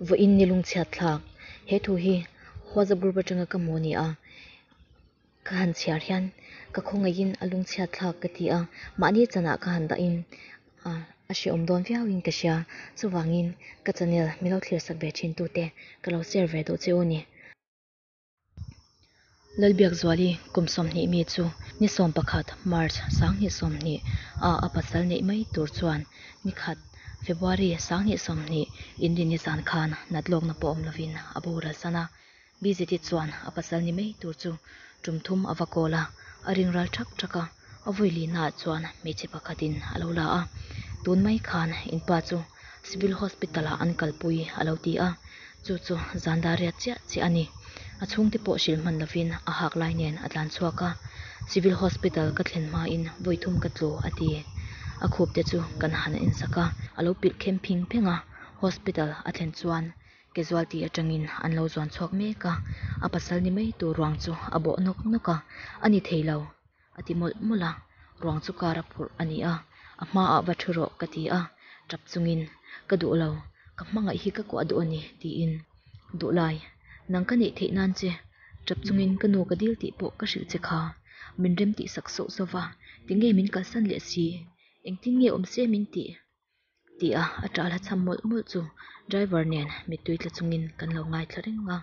Vawiin ni lungchhiatthlak he thu hi Huaza group atanga ka hmu a ni a, ka han chhiar hian ka khawngaihin a lungchhiatthlak ka ti a, mahni chanah ka han dahin a hrehawm dawn viauin ka hria, chuvangin ka channel milo thlir sak ve thintute ka lo share ve duh che u ni. Lalbiakzuali kum sawmhnih mi chu ni sawm pakhat, March, sanghnih sawmhnih, ah a pasal neih mai tur chuan ni khat, February, sanghnih sawmhnih, in rin ni zan khan nat lawkna pawh awm lovin a bo ral san a. Bizitit chuan a pasal ni mai tur chu tum thum a va kawl a, a ring ral ṭhak ṭhak a. A vawilinah chuan hmeichhe pakhatin a lo la a, tun mai khan in pa chu civil hospital ah an kalpui a lo ti a, chu chu zan dar riat chiah chiah a ni. A chhungte pawh hrilh hman lovin a hak lai nen a tlan chhuak a, civil hospital ka thlen hmain vawi thum ka tlu a ti. A khupte chu kan han en sak a, a lo pilh khem phing phing a, hospital a thlen chuan casualty atangin an lo zuan chhuak mek a, a pasal ni mai tur ruang chu a bawh nawk nawk a, a ni thei lo. a ti mawlh mawlh a, ruang chu kar a phurh a ni a, a hmaah va thu rawh ka ti a, ṭap chungin, Ka duh lo, ka hmangaih hi ka kuah duh a ni, tiin, Duh lai, nang ka neih theih nan che, ṭap chungin ka nu ka dil tih pawh ka hrilh che kha, min remtih sak sauh sauh va, ti nge min kalsan leh si, engtin nge awm se min tih? tih a a ṭah hla chham mawlh mawlh chu driver nen mittui tla chungin kan lo ngai thla reng a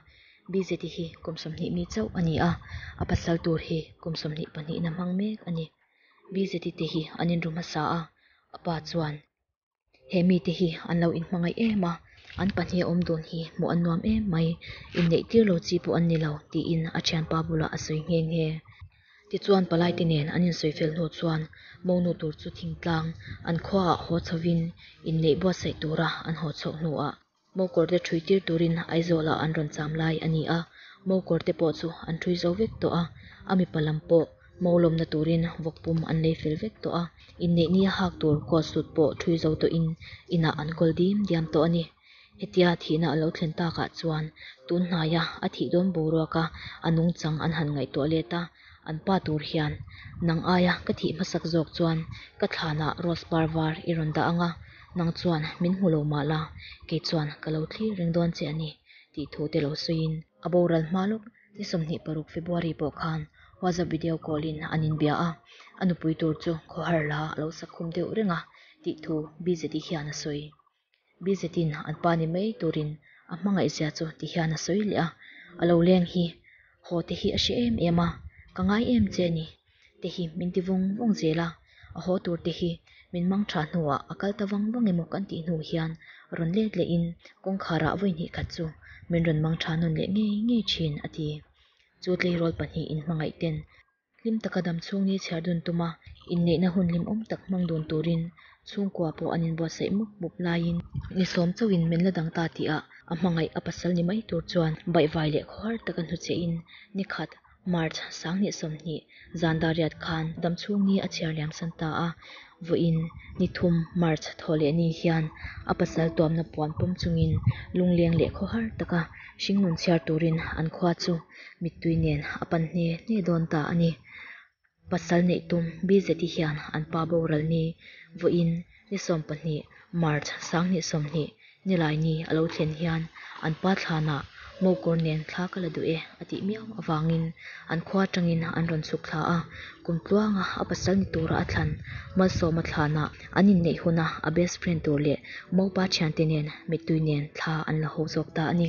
bz hi kum sawmhnih mi chauh a ni a a pasal tur hi kum sawmhnih pahnihna hmang mek a ni bz te hi an inru hmasa a a pa chuan he mite hi an lo in hmangaih em a an pahnih a awm dawn hi hmuh an nuam em mai inneih tir lo chi pawh an ni lo tiin a thianpa bulah a sawi nghe nghe. Tichuan Palaite nen an insawi fel hnu chuan Monu tur chu thingtlang an khuaah haw chhovin inneih buatsaih tura an haw chhoh hnuah Mokawrte ṭhui tir turin Aizawlah an rawn cham lai a ni a. Mokawrte pawh chu an ṭhui zo vek tawh a, a mipa lam pawh Mo lawmna turin vawk pum an lei fel vek tawh a, inneihni a hak tur coat suit pawh ṭhui zo tawhin inah an kawl diam diam tawh a ni. Hetia thihna a lo thlen takah chuan tunhnaia a thih dawn boruak a, a nungchang an han ngaihtuah let a, an pa tur hian, Nang aia ka thih hmasak zawk chuan ka thlanah rose par var i rawn dah ang a, nang chuan min hmu lo mah la, kei chuan ka lo thlir reng dawn che a ni, tih thu te lo sawiin. A boral hma lawk ni sawmhnih paruk February pawh khan WhatsApp video call in an inbia a, a nupui tur chu khawhar la a lo sak khum deuh reng a, tih thu BZI hian a sawi. Bizetin an pa ni mai turin a hmangaihzia chu ti hian a sawi leh a, A lo leng hi haw te hi a hre em em a, ka ngai em che a ni. Te hi min ti vawng vawng zel a, a haw tur te hi min mang tha hnuah a kal ta vang vang emaw kan tih hnu hian rawn let lehin kawngkhara vawi hnih khat chu min rawn mang tha nawn leh ngei ngei thin a ti. Chu tleirawl pahnih inhmangaihten Hlim taka dam chhung ni chhiar dun tuma inneihna hun hlimawm tak hmang dun turin chhungkua pawh an inbuatsaih mup mup laiin ni sawm chauhin men la dang ta tihah a hmangaih a pasal ni mai tur chuan baihvai leh khuahar taka hnu chein ni khat, March sanghnih sawmhnih, zan dariat khan dam chhung ni a chhiar liamsan ta a, vawiin ni thum, March thaw leh ni hian a pasal tuamna puan pawm chungin lungleng leh khuahar taka hringnun chhiar turin an khua chu. mittui nen a pan hle hle dawn ta a ni. Pasal neih tum BZT hian an pa boral ni vawiin ni sawm pahnih March sanghnih sawmhnih ni lai ni a lo thlen hian an pa thlanah mawkawr nen thla ka la duh e a tih miau avangin an khua atangin an rawn chhuk thla a. Kum tluanga a pasal ni tura a thlan Malsawma thlanah an inneih huna a best friend tur leh mopa thiante nen mittui nen thla an la haw zawk ta a ni.